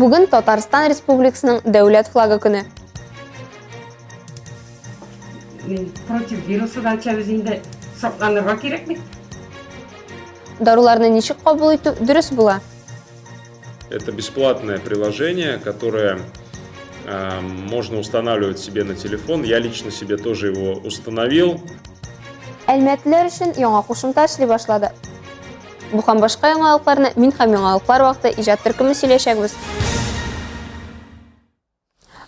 Бүген Татарстан Республикасының дәүләт флагы көне. Против вирусы да чәбез инде сакланырга кирәк бит. Даруларны ничек кабул итү дөрес була? Это бесплатное приложение, которое э, можно устанавливать себе на телефон. Я лично себе тоже его установил. Әлмәтләр өчен яңа кушымта эшли башлады. Бу һәм башка яңалыкларны мин һәм яңалыклар вакыты иҗат төркеме сөйләшәкбез.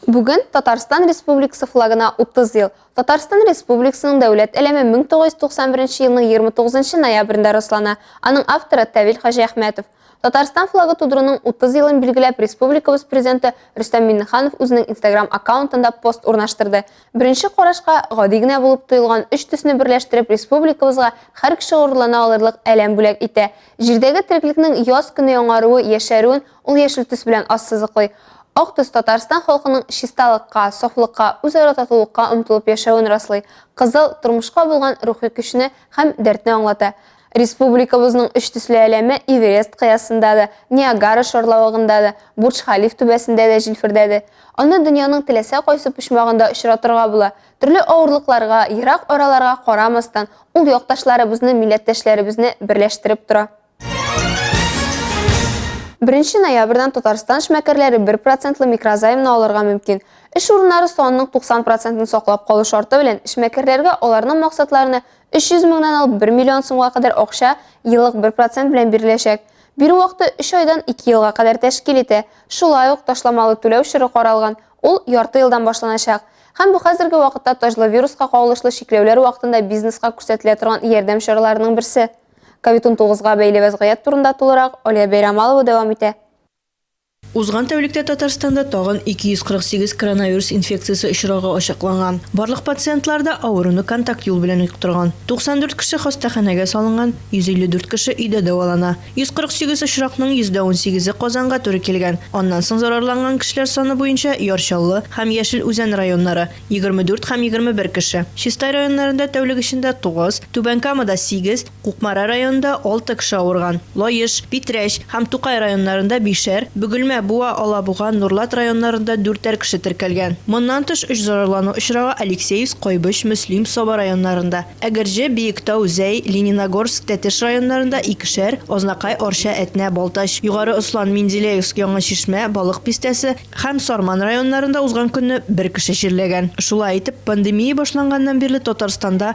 Бүген Татарстан Республикасы флагына 30 ел. Татарстан Республикасының дәүләт әлеме 1991 елның 29 ноябрендә раслана. Аның авторы Тавил Хаҗи Әхмәтов. Татарстан флагы тудыруның 30 елын билгеләп республикабыз президенты Рөстәм Миннеханов үзенең Instagram аккаунтында пост урнаштырды. Беренче карашка гади генә булып тоелган өч төсне берләштереп республикабызга һәр кеше горурлана алырлык әләм бүләк итә. Җирдәге тереклекнең яз көне яңаруы, яшәрүен ул яшел төс белән ассызыклый. Ак төс Татарстан халкының чисталыкка, сафлыкка, үзара татулыкка омтылып яшәвен раслый, кызыл, тормышка булган рухи көчне һәм дәртне аңлата. Республикабызның өч төсле әләме Эверест кыясында да, Ниагара шарлавыгында да, Бурдж-Халиф түбәсендә дә җилфердәде. Аны дөньяның теләсә кайсы почмагында очратырга була. Төрле авырлыкларга, ерак араларга карамастан, ул якташларыбызны, милләттәшләребезне берләштереп тора. Беренче ноябрьдән Татарстан эшмәкәрләре бер процентлы микрозаймны алырга мөмкин. Эш урыннары санының 90 процентын саклап калу шарты белән, эшмәкәрләргә аларның максатларына 300 меңнән алып 1 миллион сумга кадәр акча еллык 1% белән биреләчәк. Бирү вакыты 3 айдан 2 елга кадәр тәшкил итә. Шулай ук ташламалы түләү чоры каралган, ул ярты елдан башланачак. Һәм бу хәзерге вакытта таҗлы вируска кагылышлы чикләүләр вакытында бизнеска күрсәтелә торган ярдәм чараларының берсе. Ковид-19 га бәйле вәзгыять турында тулырак Алия Бәйрәмалова дәвам итә. Узган тәүлектә Татарстанда тагын 248 коронавирус инфекциясе очрагы ачыкланган. Барлык пациентлар да авыруны контакт юл белән йоктырган. 94 кеше хастаханәгә салынган, 154 кеше өйдә дәвалана. 148 очракның йөздә унсигезе Казанга туры килгән. Аннан соң зарарланган кешеләр саны буенча Яр Чаллы һәм Яшел Үзән районнары, 24 һәм 21 кеше, Чистай районнарында тәүлек эчендә тугыз, Түбән Камада сигез, Кукмара районында алты кеше авырган, Лаеш, Питрәч һәм Тукай районнарында бишәр, Бөгелмә, Буа, Алабуга, Нурлат районнарында дүртәр кеше теркәлгән. Моннан тыш, өч зарарлану очрагы Алексеевск, Кайбыч, Мөслим, Саба районнарында, Әгерҗе, Биектау, Зәй, Лениногорск, Тәтеш районнарында икешәр, Азнакай, Арча, Әтнә, Балтач, Югары Ослан, Менделеевск, Яңа Чишмә, Балык Бистәсе һәм Сарман районнарында узган көнне бер кеше чирләгән. Шулай итеп, пандемия башланганнан бирле Татарстанда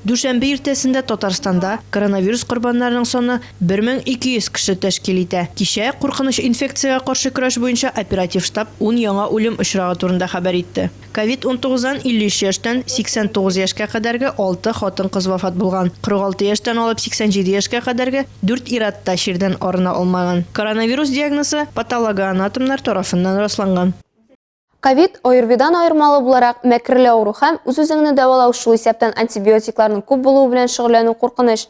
Дүшәмбе иртәсендә Татарстанда коронавирус корбаннарының саны 1200 кеше тәшкил итә. Кичә куркыныч инфекциягә каршы көрәш буенча оператив штаб ун яңа үлем очрагы турында хәбәр итте. Ковид-унтугыздан 53 яшьтән 89 яшькә кадәрге алты хатын-кыз вафат булган, 46 яшьтән алып 87 яшькә кадәрге дүрт ир-ат та чирдән арына алмаган. Коронавирус диагнозы патологоанатомнар тарафыннан расланган. Ковид, ОРВИдан аермалы буларак, мәкерле авыру һәм үз-үзеңне дәвалау, шул исәптән антибиотикларның күп булуы белән шөгыльләнү куркыныч.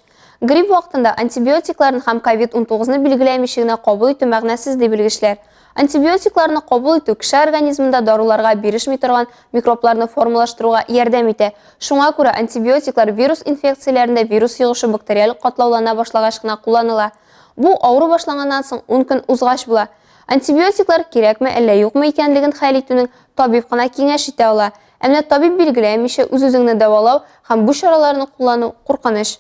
Грипп вакытында антибиотикларны һәм COVID-19-ны билгеләмичә генә кабул итү мәгънәсез, ди белгечләр. Антибиотикларны кабул итү кеше организмында даруларга бирешми торган микробларны формалаштыруга ярдәм итә. Шуңа күрә антибиотиклар вирус инфекцияләрендә вирус йогышы бактериаль катлаулана башлагач кына кулланыла. Бу авыру башланганнан соң 10 көн узгач була. Антибиотиклар кирәкме әллә юкмы икәнлеген хәл итүнең табиб кына киңәш итә ала. Ә менә табиб билгеләмичә үз-үзеңне дәвалау һәм бу чараларны куллану куркыныч.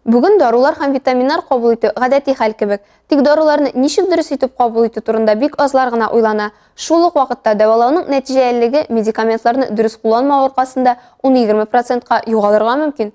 Бүген дарулар һәм витаминнар кабул итү гадәти хәл кебек. Тик даруларны ничек дөрес итеп кабул итү турында бик азлар гына уйлана. Шул ук вакытта дәвалауның нәтиҗәлелеге медикаментларны дөрес кулланмау аркасында ун-егерме процентка югалырга мөмкин.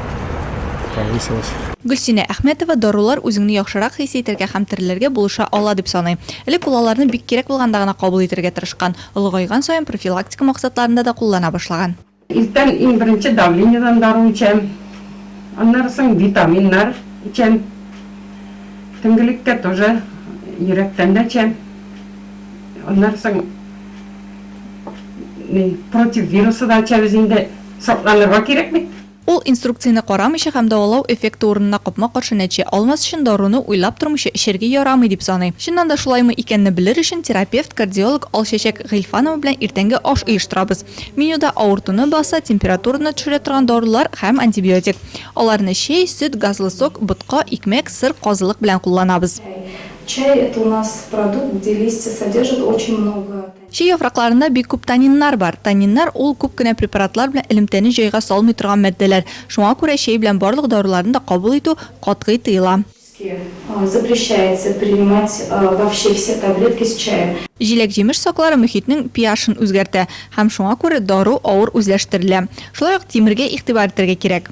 повысилась. Гөлсинә Әхмәтова дарулар үзеңне яхшырак хис итәргә һәм терелергә булыша ала дип саный. Элек ул аларны бик кирәк булганда гына кабул итәргә тырышкан, олыгайган саен профилактика максатларында да куллана башлаган. Иртән иң беренче давлениедән дару эчәм, аннары соң витаминнар эчәм, төнгелеккә тоже йөрәктән дә эчәм, аннары соң против вирусы да эчәбез инде. Сакланырга кирәк бит. Ул инструкцияне карамыйча һәм дәвалау эффекты урынына капма-каршы нәтиҗә алмас өчен даруны уйлап тормыйча эчәргә ярамый дип саный. Чыннан да шулаймы икәнне белер өчен терапевт, кардиолог Алчәчәк Гыйльфанова белән иртәнге аш оештырабыз. Менюда авыртуны баса, температураны төшерә торган дарулар һәм антибиотик. Аларны чәй, сөт, газлы сок, ботка, икмәк, сыр, казылык белән кулланабыз. Чәй, это у нас продукт, где листья содержат очень много. Чи яфракларында бик күп таниннар бар. Таниннар, ул күп кенә препаратлар белән элемтәне җайга салмый торган матдәләр. Шуңа күрә чәй белән барлык даруларны да кабул итү катгый тыела. Запрещается принимать вообще все таблетки с чаем. Җиләк-җимеш соклары мөхитнең pH-ын үзгәртә һәм шуңа күрә дару авыр үзләштерелә. Шулай ук тимергә игътибар итәргә кирәк.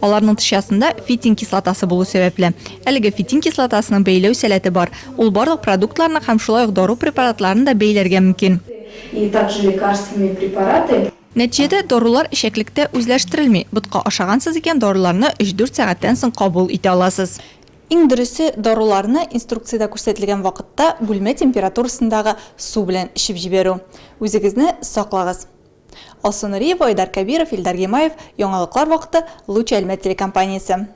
Аларның тышчасында фитин кислотасы булу сәбәпле, әлеге фитин кислотасының бәйләү сәләте бар, ул барлык продуктларны һәм шулай ук дару препаратларын да бәйләргә мөмкин. И также лекарственные препараты. Нәтиҗәдә дарулар эчәклектә үзләштерелми, ботка ашагансыз икән, даруларны өч-дүрт сәгатьтән соң кабул итә аласыз. Иң дөресе, даруларны инструкциядә күрсәтелгән вакытта бүлмә температурасындагы су белән эчеп җибәрү. Үзегезне саклагыз! Алсу Нуриева, Айдар Кәбиров, Илдар Гимаев, Яңалыклар вакыты, Луч Әлмәт телекомпаниясе.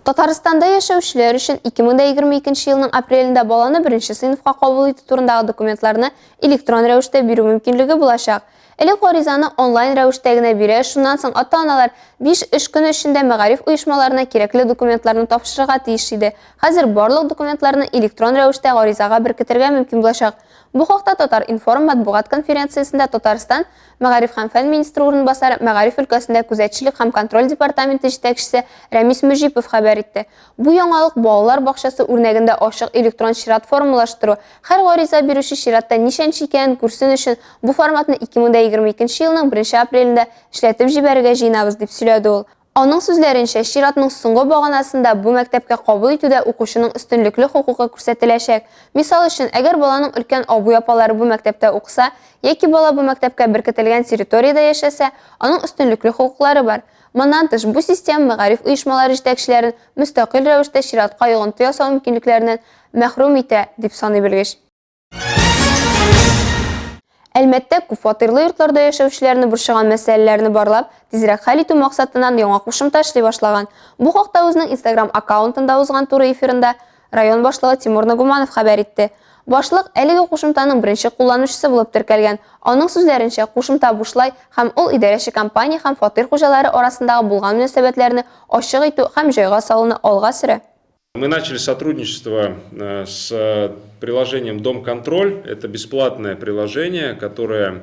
Татарстанда яшәүчеләр өчен 2022 елның апрелендә баланы беренче сыйныфка кабул итү турындагы документларны электрон рәвештә бирү мөмкинлеге булачак. Элек гаризаны онлайн рәвештә генә бирә, шуннан соң ата-аналар биш эш көне эчендә мәгариф оешмаларына кирәкле документларны тапшырырга тиеш иде. Хәзер барлык документларны электрон рәвештә гаризага беркетергә мөмкин булачак. Бу хакта Татар-информ матбугат конференциясендә Татарстан Мәгариф һәм фән министры урынбасары, мәгариф өлкәсендә күзәтчелек һәм контроль департаменты җитәкчесе Рәмис Мөҗипов хәбәр итте. Бу яңалык балалар бакчасы үрнәгендә ачык электрон чират формалаштыру, һәр гариза бирүче чиратта ничәнче икәнен күрсен өчен, бу форматны 2022 елның 1 апрелендә эшләтеп җибәрергә җыенабыз, дип сөйләде ул. Аның сүзләренчә, чиратның соңгы баганасында бу мәктәпкә кабул итүдә укучының өстенлекле хокукы күрсәтеләчәк. Мисал өчен, әгәр баланың өлкән абый-апалары бу мәктәптә укыса, яки бала бу мәктәпкә беркетелгән территориядә яшәсә, аның өстенлекле хокуклары бар. Моннан тыш, бу система мәгариф оешмалары җитәкчеләрен мөстәкыйль рәвештә чиратка йогынты ясау мөмкинлекләреннән мәхрүм итә, дип саный белгеч. Әлмәттә күпфатирлы йортларда яшәүчеләрне борчыган мәсьәләләрне барлап, тизрәк хәл итү максатыннан яңа кушымта эшли башлаган. Бу хакта үзенең Instagram аккаунтында узган туры эфирында Район башлыгы Тимур Нагуманов хәбәр итте. Башлык әлеге кушымтаның беренче кулланучысы булып теркәлгән. Аның сүзләренчә, кушымта бушлай һәм ул идарәче компания һәм фатир хуҗалары арасындагы булган мөнәсәбәтләрне ачык итү һәм җайга салуны алга сөрә. Мы начали сотрудничество э, с э, приложением Дом контроль. Это бесплатное приложение, которое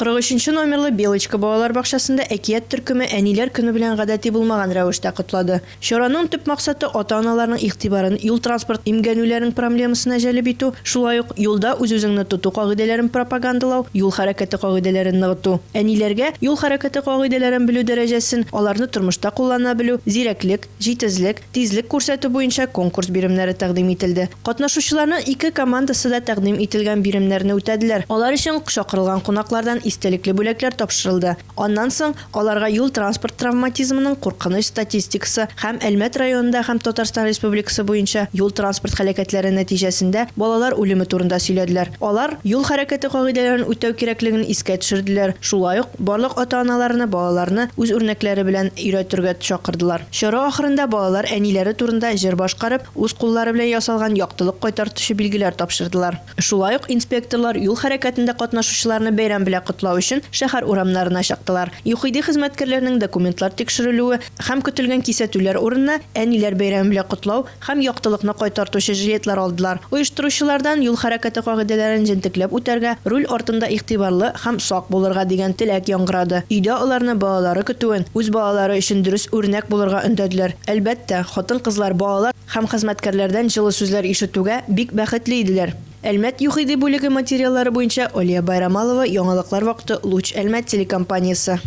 43 номерлы Белочка балалар бакчасында әкият төркеме Әниләр көне белән гадәти булмаган рәвештә котлады. Чараның төп максаты, ата-аналарның игътибарын юл-транспорт имгәнүләренең проблемасына җәлеп итү, шулай ук юлда үз-үзеңне тоту кагыйдәләрен пропагандалау, юл хәрәкәте кагыйдәләрен ныгыту. Әниләргә юл хәрәкәте кагыйдәләрен белү дәрәҗәсен, аларны тормышта куллана белү, зирәклек, Җитезлек, тизлек күрсәтү буенча конкурс биремнәре тәкъдим ителде. Катнашучыларның ике командасы да тәкъдим ителгән биремнәрне үтәделәр. Алар өчен чакырылган кунаклардан истәлекле бүләкләр тапшырылды. Аннан соң аларга юл-транспорт травматизмының куркыныч статистикасы һәм Әлмәт районында һәм Татарстан Республикасы буенча юл-транспорт һәлакәтләре нәтиҗәсендә балалар үлеме турында сөйләделәр. Алар юл хәрәкәте кагыйдәләрен үтәү кирәклеген искә төшерделәр, шулай ук, Барлык ата-аналарны балаларны үз үрнәкләре белән өйрәтергә чакырдылар. Чара ахырында балалар әниләре турында җыр башкарып, үз куллары белән ясалган яктылык кайтартучы билгеләр тапшырдылар. Шулай ук инспекторлар юл хәрәкәтендә катнашучыларны бәйрәм белән котлау өчен шәһәр урамнарына чыктылар. ЮХИДИ хезмәткәрләренең документлар тикшерелүе һәм көтелгән кисәтүләр урынына, әниләр бәйрәме белән котлау, һәм яктылыкны кайтартучы жилетлар алдылар. Оештыручылардан юл хәрәкәте кагыйдәләрен җентекләп үтәргә, руль артында игътибарлы һәм сак булырга дигән теләк яңгырады. Өйдә аларны балалары көтүен, үз балалары өчен дөрес үрнәк булырга өндәделәр. Әлбәттә, хатын-кызлар балалар һәм хезмәткәрләрдән җылы сүзләр ишетүгә бик бәхетле иделәр. Әлмәт ЮХИДИ бүлеге материаллары буенча Алия Байрамалова, яңалыклар вакыты, Луч Әлмәт телекомпаниясе.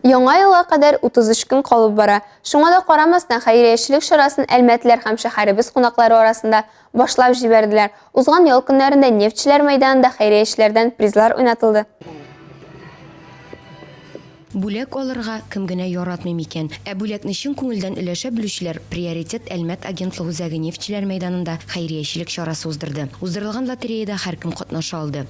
Яңа елга кадәр 33 көн калып бара. Шуңа да карамастан, хәйриячелек чарасын әлмәтләр һәм шәһәребез кунаклары арасында башлап җибәрделәр. Узган ял көннәрендә нефтьчеләр мәйданында хәйриячеләрдән призлар уйнатылды. Бүләк алырга кем генә яратмый микән? Ә бүләкне чын күңелдән өләшә белүчеләр Приоритет Әлмәт агентлык үзәге нефтьчеләр мәйданында хәйриячелек чарасы уздырды. Уздырылган лотереяда һәркем катнаша алды.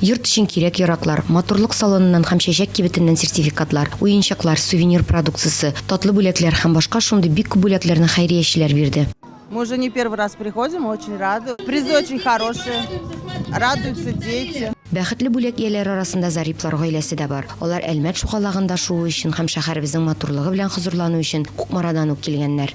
Йорт өчен кирәк-яраклар, матурлык салоныннан һәм чәчәк кибетеннән сертификатлар, уенчыклар, сувенир продукциясе, татлы бүләкләр һәм башка шундый бик күп бүләкләрне хәйриячеләр бирде. Мы уже не первый раз приходим, очень рады. Призы очень хорошие, радуются дети. Бәхетле бүләк ияләре арасында Зариплар гаиләсе дә бар. Алар Әлмәт шугалагында шуу өчен һәм шәһәребезнең матурлыгы белән хозурлану өчен Кукмарадан ук килгәннәр.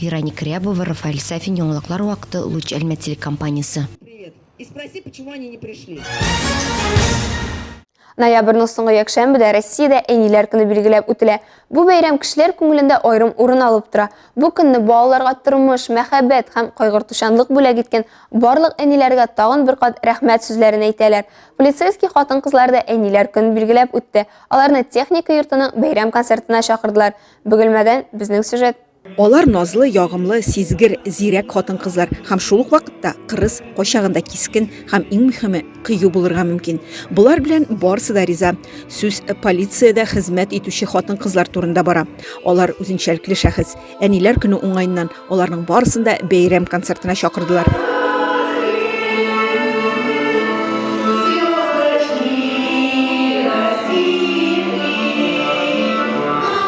Вероника Рябова, Рафаэль Сафин, Яңалыклар вакыты, Луч Әлмәт телекомпаниясе. Ноябрьнең соңгы якшәмбедә Россиядә әниләр көне билгеләп үтелә. Бу бәйрәм кешеләр күңелендә аерым урын алып тора. Бу көнне балаларга тормыш, мәхәббәт һәм кайгыртучанлык бүләк иткән барлык әниләргә тагын бер кат рәхмәт сүзләрен әйтәләр. Полицейский хатын-кызлар да әниләр көнен билгеләп үтте. Аларны техника йортының бәйрәм концертына чакырдылар. Бөгелмәдән безнең сюжет. Алар назлы, ягымлы, сизгер, зирәк хатын-кызлар һәм шул ук вакытта кырыс, кайчагын да кискен һәм иң мөхиме, кыю булырга мөмкин. Болар белән барысы да риза. Сүз полициядә хезмәт итүче хатын-кызлар турында бара. Алар үзенчәлекле шәхес. Әниләр көне уңаеннан аларның барысын да бәйрәм концертына чакырдылар.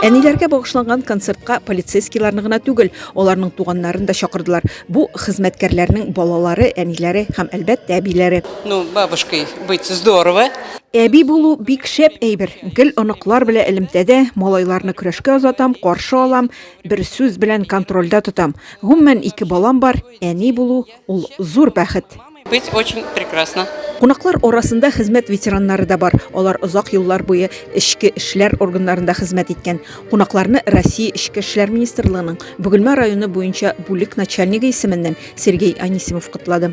Әниләргә багышланган концертка полицейскийларны гына түгел, аларның туганнарын да чакырдылар. Бу хезмәткәрләрнең балалары, әниләре һәм, әлбәттә, әбиләре. Ну, бабушкой быть здорово. Әби булу бик шәп әйбер. Гел оныклар белән элемтәдә, малайларны көрәшкә озатам, каршы алам, бер сүз белән контрольдә тотам. Гомумән, ике балам бар, әни булу, ул зур бәхет. Быть очень прекрасно. Кунаклар арасында хезмәт ветераннары да бар. Алар озак еллар буе эчке эшләр органнарында хезмәт иткән. Кунакларны Россия эчке эшләр министрлыгының Бөгелмә районы буенча бүлек начальнигы исеменнән Сергей Анисимов котлады.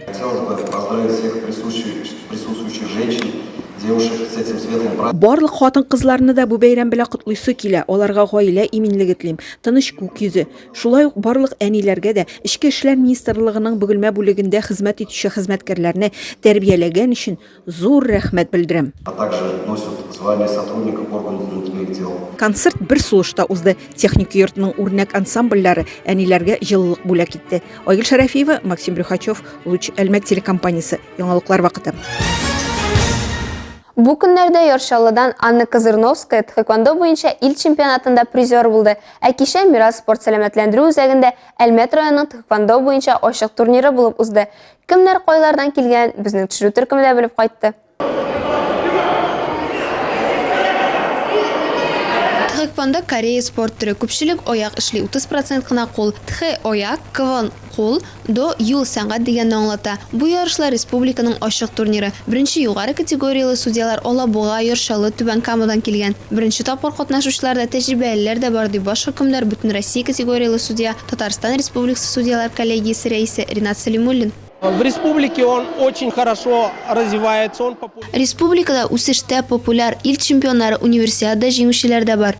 Барлык хатын-кызларны да бу бәйрәм белән котлыйсы килә, аларга гаилә иминлеге телим, тыныч күк йөзе, Шулай ук барлык әниләргә дә Эчке эшләр министрлыгының Бөгелмә бүлегендә хезмәт итүче хезмәткәрләрне тәрбияләгән өчен зур рәхмәт белдерәм. а также носят звание сотрудника органов внутренних дел. Концерт бер сулышта узды. Техник йортның үрнәк ансамбльләре әниләргә җылылык бүләк итте. Айгөл Шәрәфиева, Максим Брюхачев, Луч, Әлмәт телекомпаниясе, яңалыклар вакыты. Бу көннәрдә Яр Чаллыдан Анна Козырновская тхэквондо буенча ил чемпионатында призер булды. Ә кичә Мирас спорт-сәламәтләндерү үзәгендә Әлмәт районының тхэквондо буенча ачык турниры булып узды. Кемнәр кайлардан килгәнен безнең төшерү төркеме дә белеп кайтты. Тхэквондо Корея спорт төре, күпчелек аяк эшли, 30 процент кына кул, тхэ, аяк, квон, кул, До, юл, сәнгать дигәнне аңлата. Бу ярышлар республиканың ачык турниры. Беренче югары категорияле судьялар Алабуга, Яр Чаллы, Түбән Камадан килгән. Беренче тапкыр катнашучыларда тәҗрибәлеләр дә бар, ди баш хөкемдар, бөтенроссия категорияле судья, Татарстан Республикасы судьялар коллегиясе рәисе Ринат Сәлимуллин. В республике он очень хорошо развивается, он попу. Республикада үсештә, популяр, ил чемпионнары, Универсиада җиңүчеләр дә бар.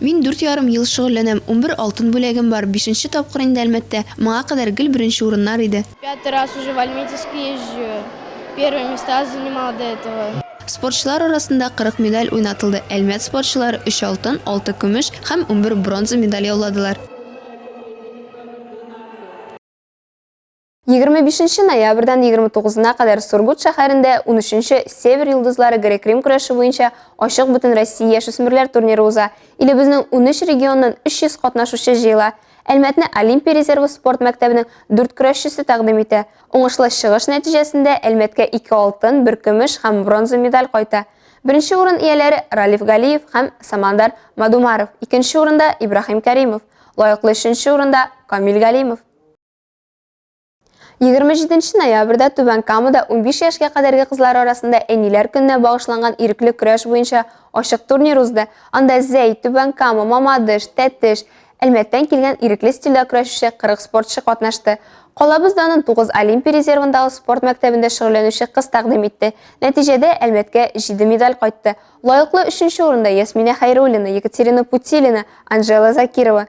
Мин дүрт ярым ел шөгыльләнәм, унбер алтын бүләгем бар, бишенче тапкыр инде Әлмәттә, моңа кадәр гел беренче урыннар иде. Пятый раз уже в Альметьевск езжу, первые места занимал до этого. Спортчылар арасында кырык медаль уйнатылды, Әлмәт спортчылары өч алтын, алты көмеш һәм унбер бронза медаль яуладылар. 25 нче ноябрьдән 29 на кадәр Сургут шәһәрендә 13 нче Север йолдызлары грек-рим көрәше буенча ачык бөтен Россия яшүсмерләр турниры уза. Илебезнең 13 регионыннан 300 катнашучы җыела. Әлмәтне Олимпия резервы спорт мәктәбенең дүрт көрәшчесе тәкъдим итә. Уңышлы чыгыш нәтиҗәсендә Әлмәткә ике алтын, бер көмеш һәм бронза медаль кайта. Беренче урын ияләре Ралиф Галиев һәм Самандар Мадумаров, икенче урында Ибрахим Кәримов, лаеклы өченче урында Камил Галимов. 27 ноябрьдә Түбән Камада 15 яшькә кадәрге кызлар арасында әниләр көненә багышланган ирекле көрәш буенча ачык турнир узды. Анда Зәй, Түбән Кама, Мамадыш, Тәтеш, Әлмәттән килгән ирекле стильдә көрәшүче 40 спортчы катнашты. Калабыз данын 9 Олимпия резервындагы спорт мәктәбендә шөгыльләнүче кыз тәкъдим итте. Нәтиҗәдә Әлмәткә 7 медаль кайтты. Лаеклы өченче урында Ясминә Хәйруллина, Екатерина Путилина, Анжела Закирова.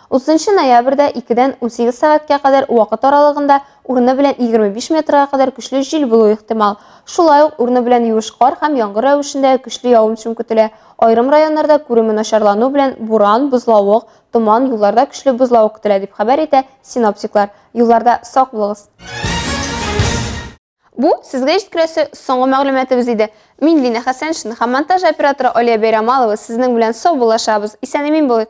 30 ноябрьдә 2-дән 18 сәгатькә кадәр вакыт аралыгында урыны белән 25 метрга кадәр көчле җил булу ихтимал. Шулай ук урыны белән юеш кар һәм яңгыр рәвешендә көчле явым-төшем көтелә. Аерым районнарда күреме начарлану белән буран, бозлавык, томан, юлларда көчле бозлавык көтелә, дип хәбәр итә синоптиклар. Юлларда сак булыгыз. Бу сезгә җиткерәсе соңгы мәгълүматыбыз иде. Мин Лина Хәсәншина һәм монтаж операторы Алия Бәйрамалова сезнең белән саубуллашабыз. Исән-имин булыйк!